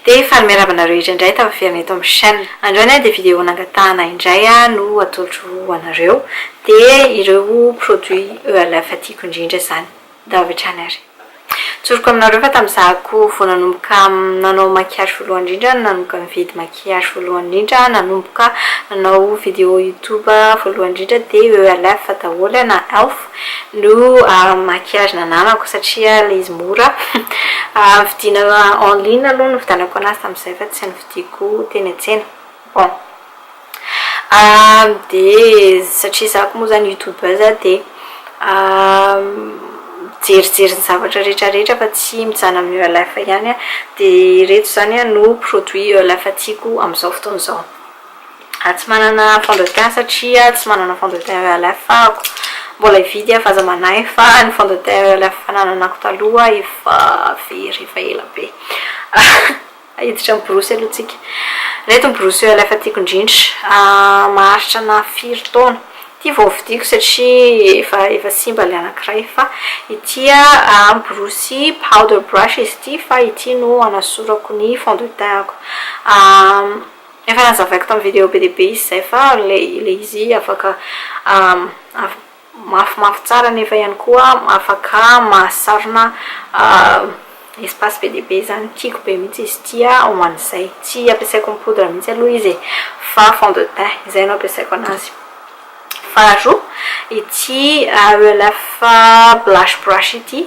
Dia faly miarahaba anareo indraindray tafaverina eto amin'ny chaîne. Androany dia vidéo nangatahana indray no atolotro ho anareo. Dia ireo produits ELF tiako indrindra izany. Ndao avy hatrany ary. Tsoriko aminareo fa tamin'izaho koa vao nanomboka nanao maquillage voalohany indrindra no nanomboka nividy maquillage. Mariage voalohany indrindra nanomboka nanao vidéo youtube voalohany indrindra dia ELF daholo na Elf no maquillage nananako satria ilay izy mora vidiana en ligne aloha no nividianako anazy tamin'izay fa tsy novidiako teny an-tsena bon dia satria za ko moa zany youtubeuse dia mijerijery ny zavatra rehetra rehetra fa tsy mijanona amin'ny ELF ihany aho dia ireto izany no produit ELF tiako amin'izao fotoana izao ary tsy manana fond de teint satria tsy manana fond de teint ELF aho mbola hividy aho fa aza manahy fa ny fond de teint ELF nananako taloha efa very efa ela be Hiditra amin'ny borosy aloha tsika. Ireto ny borosy oeil efa tiako indrindra. Maharitra ana firy taona. Ity vao novidiako satria efa efa simba ilay anankiray fa ity an borosy powder brush izy ity fa ity no hanasorako ny fond de teint-ko. Efa nazavaiko tamin'ny vidéo be dia be izy izay fa ilay ilay izy afaka mafimafy tsara nefa ihany koa afaka mahasarona espace be dia be izany, tiako be mihitsy izy ity ho an'izay, tsy ampiasaiko ny poudre mihitsy aloha izy e, fa fond de teint izay no ampiasaiko an'azy, faharoa ity ELF blush brush ity.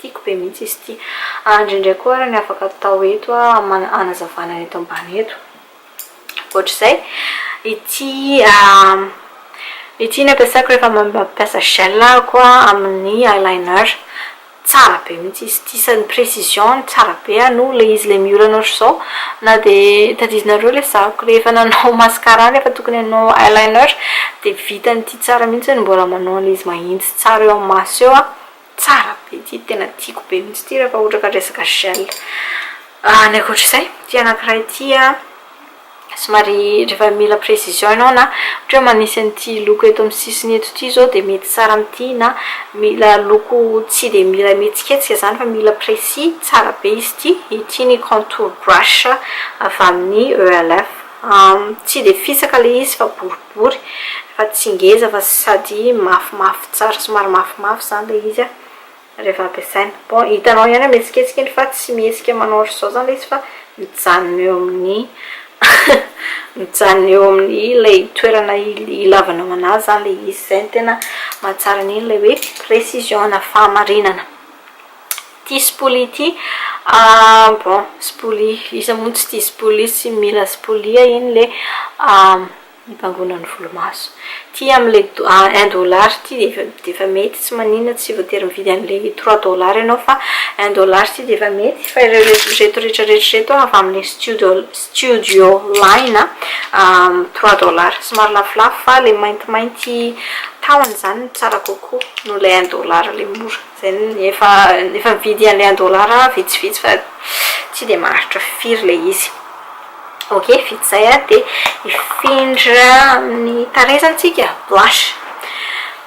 Tiako be mihitsy izy ity. Andry indray koa ary ny afaka atao eto hanazavana ny eto ambany eto. Ohatr'izay, ity ity no ampiasako rehefa mampiasa gel ahako amin'ny eyeliner. Tsara be mihitsy izy ity sady ny précision-ny tsara be no ilay izy ilay miolana ohatr'izao na dia tadiavinareo ilay zahako rehefa nanao mascara nefa tokony hanao eyeliner dia vitan'ity tsara mihitsy mbola manao an'ilay izy mahitsy tsara eo amin'ny maso eo aho. Tsara be ity, tena tiako be mihitsy ity rehefa ohatra ka resaka gel. Ny ankoatra izay, ity anankiray ity somary rehefa mila précision ianao na ohatra hoe manisy an'ity loko eto amin'ny sisiny eto ity izao dia mety tsara amin'ity na mila loko tsy dia mila mihetsiketsika izany fa mila précis, tsara be izy ity. Ity ny contour brush avy amin'ny ELF. Tsy dia fisaka ilay izy fa boribory fa tsy ngeza fa sady mafimafy tsara somary mafimafy izany ilay izy an! rehefa ampiasaina. Bon, hitanao ihany an! mihetsiketsika iny fa tsy mihetsika manao ohatr'izao izany ilay izy fa mijanona eo amin'ny mijanona eo amin'ny ilay toerana ilavanao anazy izany ilay izy. Izay no tena mahatsara an'iny ilay hoe précision na fahamarinana. Tia spoly ity ah bon spoly iza moa no tsy tia spoly sy mila spoly ah iny le hibangoana ny volomaso ity amle un dollar ity dia efa mety tsy maninona tsy voatery mividy anle trois dollar ianao fa un dollar ity dia efa mety fa ireo rehetra rehetra reto avy amle studio studio line ah trois dollar somary lafolafo fa le maintimainty tahony izany no tsara kokoa noho ilay un dollar ilay mora. Zany efa efa mividy an'ilay un dollar aho vitsivitsy fa tsy dia maharitra firy ilay izy. Ok vita izay a dia hifindra amin'ny tarehy zany tsika blush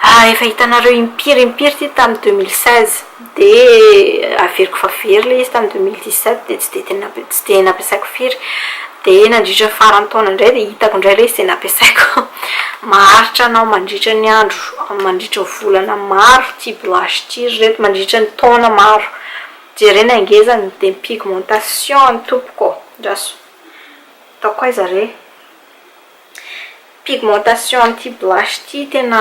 a efa hitanareo impiry impiry ity tamin'ny deux mille seize dia averiko efa very ilay izy tamin'ny deux mille dix sept dia tsy dia tena dia nampiasaiko firy dia nandritra ny faran'ny taona indray dia hitako indray ilay izy dia nampiasaiko maharitra anao mandritra ny andro mandritra ny volana maro ity blush ity ry reto mandritra ny taona maro jerena ny ngezany dia ny pigmentation ny tompoko ô andraso ataoko aiza re pigmentation an'ity blush ity tena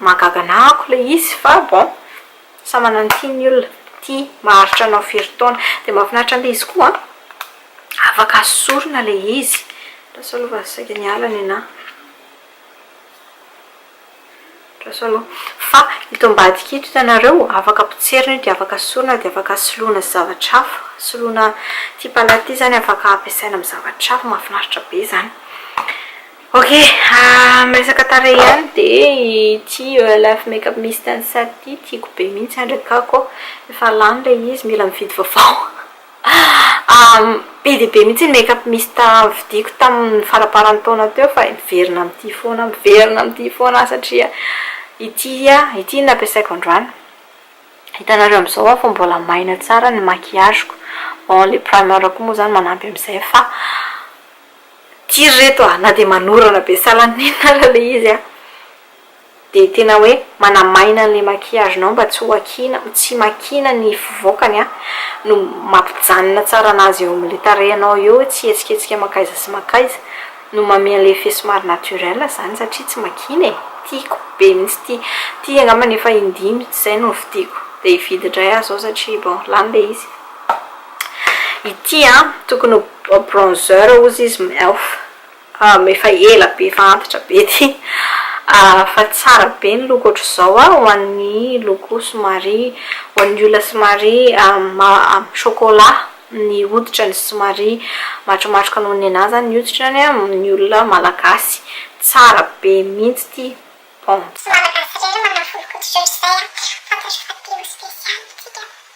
Mahagaga anah ako ilay izy fa bon samy manana ny tiany ny olona, ty maharitra anao firy taona dia mahafinaritra an'ilay izy koa afaka sorona ilay izy, andraso aloha fa saika niala ny anah, andraso aloha fa ito ambadika ito hitanareo afaka potserina io dia afaka sorona dia afaka soloina zavatra hafa, soloina ity palette ity izany afaka ampiasaina amin'ny zavatra hafa, mahafinaritra be izany. Ok ah miresaka tarehy ihany de ity ELF makeup mist and set ity tiako be mihitsy andrakako efa lany ilay izy mila mividy vaovao be dia be mihitsy ny makeup mist vidiko tamin'ny faramparan'ny taona teo fa miverina amin'ity foana miverina amin'ity foana aho satria ity ah ity no nampiasaiko androany hitanareo amin'izao aho fa mbola maina tsara ny maquillage-ko bon ilay primer koa moa izany manampy amin'izay fa Ty ry reto a, na dia manorana be salanina ara ilay izy a, dia tena hoe manamaina an'ilay maquillage-nao mba tsy ho akiana, tsy makiana ny fivoakany a, no mampijanona tsara an'azy eo amin'ilay tarehinao eo hoe tsy hihetsiketsika mankaiza sy mankaiza, no manome an'ilay effet somary naturel izany satria tsy makiana e, tiako be mihitsy ity, ity angambany efa indimy izay no novidiako, te hividy indray aho izao satria bon lany ilay izy. Ity an, tokony ho bronzer ozy izy m'elf, efa ela be efa antitra be ty, fa tsara be ny loko ohatr'izao a, ho an'ny loko somary, ho an'ny olona somary chocolat ny hoditrany, somary matromatroka noho ny anah zany ny hoditrany a, ny olona malagasy, tsara be mihitsy ty bon. Tsy malagasy irery no manafolokoditra ohatr'izay an, fantatro fa tena special isika.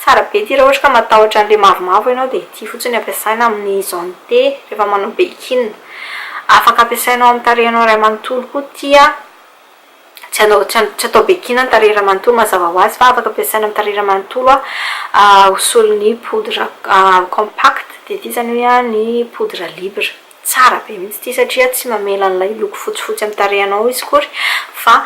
Tsara be ity raha ohatra ka matahotra an'ilay mavomavo ianao dia ity fotsiny ampiasaina amin'ny zone T rehefa manao beikin. Afaka ampiasainao amin'ny tarehinao iray manontolo koa ity a! Tsy hanao tsy tsy atao beikin ny tarehy iray manontolo mazava ho azy fa afaka ampiasaina amin'ny tarehy iray manontolo a ho solon'ny poudre compact dia ity izany hoe a ny poudre libre. Tsara be mihitsy ity satria tsy mamela an'ilay loko fotsifotsy amin'ny tarehinao izy akory fa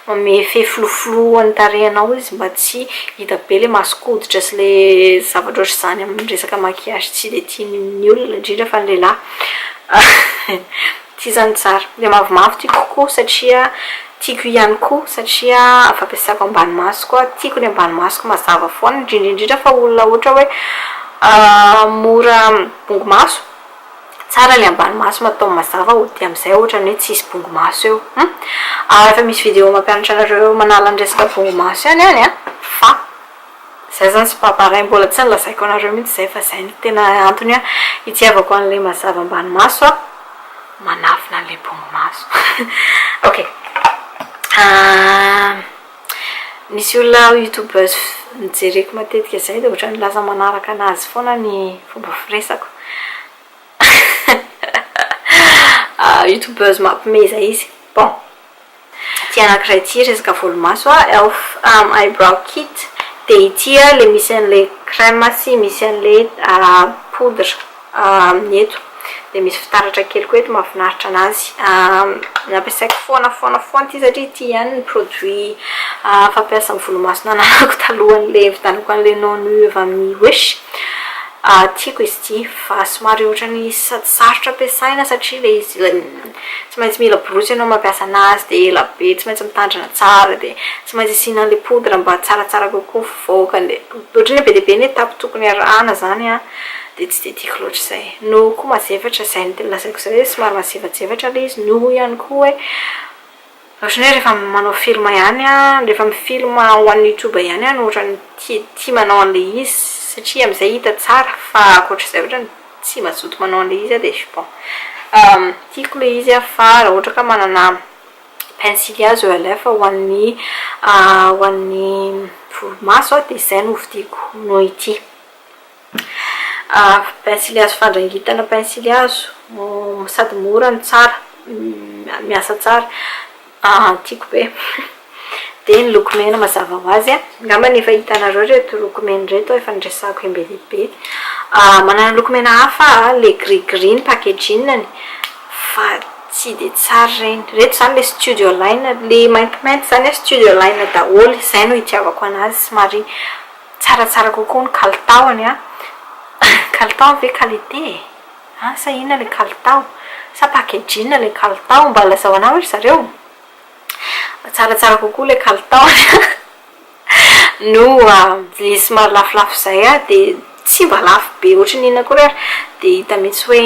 Mamefy floflo an'ny tarehinao izy mba tsy hita be ilay mason-koditra sy ilay zavatra ohatr'izany amin'ny resaka maquillage tsy dia tian'ny olona, indrindra fa ny lehilahy. Tsy izany tsara. Ilay mavomavo tiako kokoa satria tiako ihany koa satria fampiasako ambany masoko aho. Tiako ny ambany masoko mazava foana, indrindra indrindra fa olona ohatra hoe mora bongo-maso. Tsara le ambany maso ma atao mazava ody amizay otrany hoe tsisy bongo maso eo hum ary efa misy video mampianatra anareo manala ny resaka bongo maso ihany any a fa zay zany c'est pas pareil mbola tsy nilazaiko anareo mihitsy zay fa zay no tena antony hoe itiavako anle mazava ambany maso a manafina anle bongo maso ok ahh. Misy olona youtubeuse jereko matetika zay dia ohatrany lasa manaraka anazy foana ny fomba firesako youtubeuse mampimeza izy bon ity anakiray ity resaka volomaso elf eyebrow kit dia ity ilay misy an'ilay crème sy misy an'ilay poudre aminy eto dia misy fitaratra kely koa eto mahafinaritra anazy nampiasaiko foana foana foana ity satria ity ihany ny produit fampiasa amin'ny volomaso nananako talohan'ilay nividianako an'ilay non nu avy amin'ny wish tiako izy ity fa somary ohatran'ny sady sarotra ampiasaina satria ilay izy tsy maintsy mila borosy ianao mampiasa anazy dia ela be tsy maintsy mitandrina tsara dia tsy maintsy asiana an'ilay poudre mba tsaratsara kokoa mivoaka dia ohatran'ny hoe be dia be ny étape tokony harahana izany an Dia tsy dia tiako loatra izay. Noho koa mazefatra, izay no tena lazaiko izay hoe somary mazevatsevatra ilay izy. Noho ihany koa hoe ohatran'ny hoe rehefa manao film ihany aho, rehefa mi-film ho an'ny youtube ihany aho no ohatran'ny tia tia manao an'ilay izy satria amin'izay hita tsara fa ankoatra izay ohatran'ny tsy mazoto manao an'ilay izy aho dia bon. Tiako ilay izy aho fa raha ohatra ka manana pensily azo eo aleha fa ho an'ny ho an'ny volomaso aho dia izay no hovidiako noho ity. Pensily hazo fandrangitana Pensily hazo sady mora no tsara, miasa tsara, tiako be. Dia ny loko mena mazava ho azy an, angamba ny efa hitanareo ireto loko mena ireto efa niresahako em be dia be. Manana loko mena hafa aho, ilay gris gris ny packaging-ny fa tsy dia tsara ireny. Ireto izany ilay studio line, ilay maintimainty izany an, studio line daholo, izay no itiavako anazy somary Tsaratsara kokoa ny kalitaony an! Kalitao ve qualité e? An! Sa inona ilay kalitao? Sa packaging ilay kalitao? Mba lazao anay hoe ry zareo! Tsaratsara kokoa ilay kalitaony an! Noho ilay somary lafolafo izay an, dia tsy mba lafo be ohatry ny inona akory ary dia hita mihitsy hoe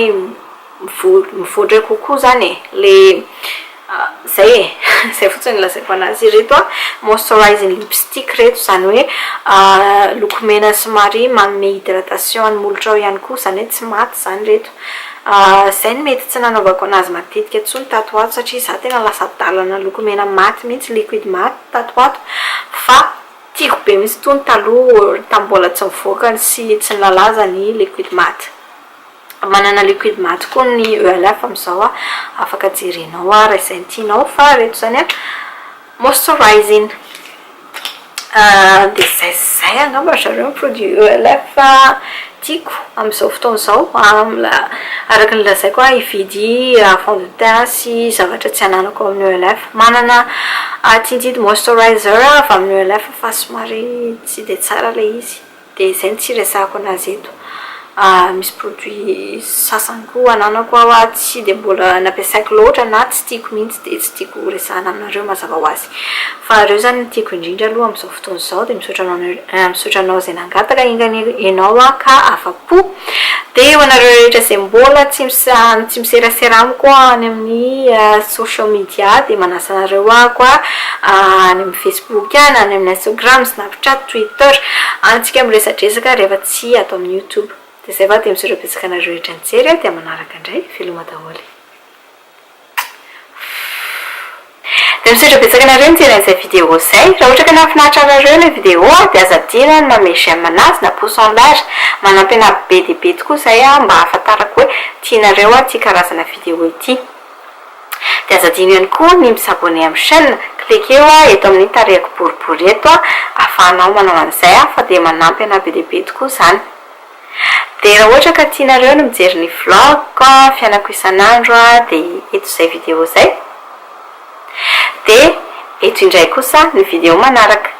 mivoatra kokoa izany e, ilay izay e, izay fotsiny no lazaiko an'azy. Ireto moisturizing lipstick ireto, izany hoe loko mena somary manome hydratation an'ny molotrao ihany koa, izany hoe tsy maty izany ireto. Izay no mety tsy nanaovako an'azy matetika intsony tato ho ato satria izaho tena lasa adalana lokomena maty mihitsy, liquide maty tato ho ato, fa tiako be mihitsy itony taloha tamin'ny mbola tsy nivoaka sy tsy nilalaza ny liquide maty. Manana liquide maty koa ny ELF amin'izao a, afaka jerenao ary izay tianao fa ireto izany a moisturizing. Dia izay sy izay angamba ry zareo ny produit ELF tiako amin'izao fotoana izao. Araka ny lazaiko a hividy fond de teint sy zavatra tsy ananako ao amin'ny ELF. Manana tinted moisturizer avy amin'ny ELF fa somary tsy dia tsara ilay izy. Dia izay no tsy hiresahako anazy eto. Misy produits sasany koa ananako aho tsy dia mbola nampiasaiko loatra na tsy tiako mihitsy dia tsy tiako ho resahina aminareo mazava ho azy. Fa ireo izany no tiako indrindra aloha amin'izao fotoana izao dia misaotra anao misaotra anao izay nangataka enga ianao aho ka afa-po. Dia ho anareo rehetra izay mbola tsy misahy tsy miserasera amiko any amin'ny social media dia manasa anareo aho koa any amin'ny facebook. Boky any amin'ny Instagram, Snapchat, Twitter, antsika miresadresaka rehefa tsy ato amin'ny YouTube. Dia zay va dia misaotra betsaka anareo rehetra nijery a, dia manaraka indray, veloma daholo. Dia misaotra betsaka anareo nijery an'izay vidéo zay. Raha ohatra ka nahafinaritra anareo ilay vidéo dia aza adino ny manome j'aime anazy na pouce en l'air. Manampy anah be dia be tokoa izay mba hahafantarako hoe tianareo aho ity karazana vidéo ity. Dia aza adino ihany koa ny mi-s'abonner amin'ny chaîne, cliquer oa eto amin'ny tarehiko boribory eto a, afahanao manao an'izay a, fa dia manampy anah be dia be tokoa izany. Dia raha ohatra ka tianareo ny mijery ny vlog-ko a, fiainako isan'andro a, dia eto izay video izay. Dia eto indray kosa ny video manaraka.